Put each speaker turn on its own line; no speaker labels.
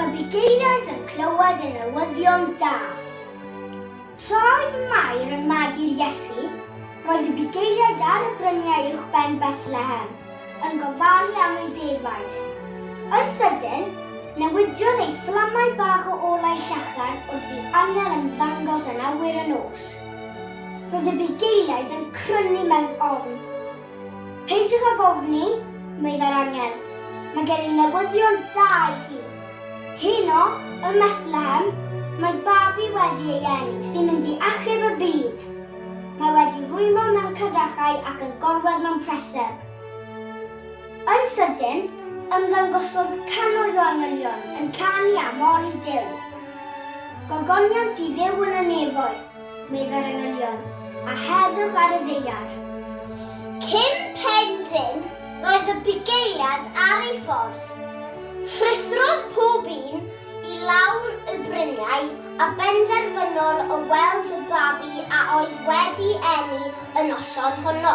Y bugeiliaid yn clywed y newyddion da. Tra oedd Mair yn magu'r Iesu, roedd y bugeiliaid ar y bryniau uwchben Bethlehem yn gofalu am eu defaid. Yn sydyn, newidiodd ei fflamau bach o olau llachar wrth i angel ymddangos yn awyr y nos. Roedd y bugeiliaid yn crynu mewn ofn. Peidiwch ag ofni, meddai'r angel. Mae gen i newyddion da i chi. Heno, ym Methlehem, mae babi wedi ei eni sy'n mynd i achub y byd. Mae wedi rwymo mewn cadachau ac yn gorwedd mewn preseb. Yn sydyn, ymddangosodd cannoedd o angylion yn canu a moli Duw. Gogoniant i Dduw yn y nefoedd, meddai'r angylion, a heddwch ar y ddaear. Cyn pen dim, roedd y bugeiliad ar ei ffordd. Rhuthrodd pob un i lawr y bryniau a benderfynol o weld y babi a oedd wedi eni y noson honno.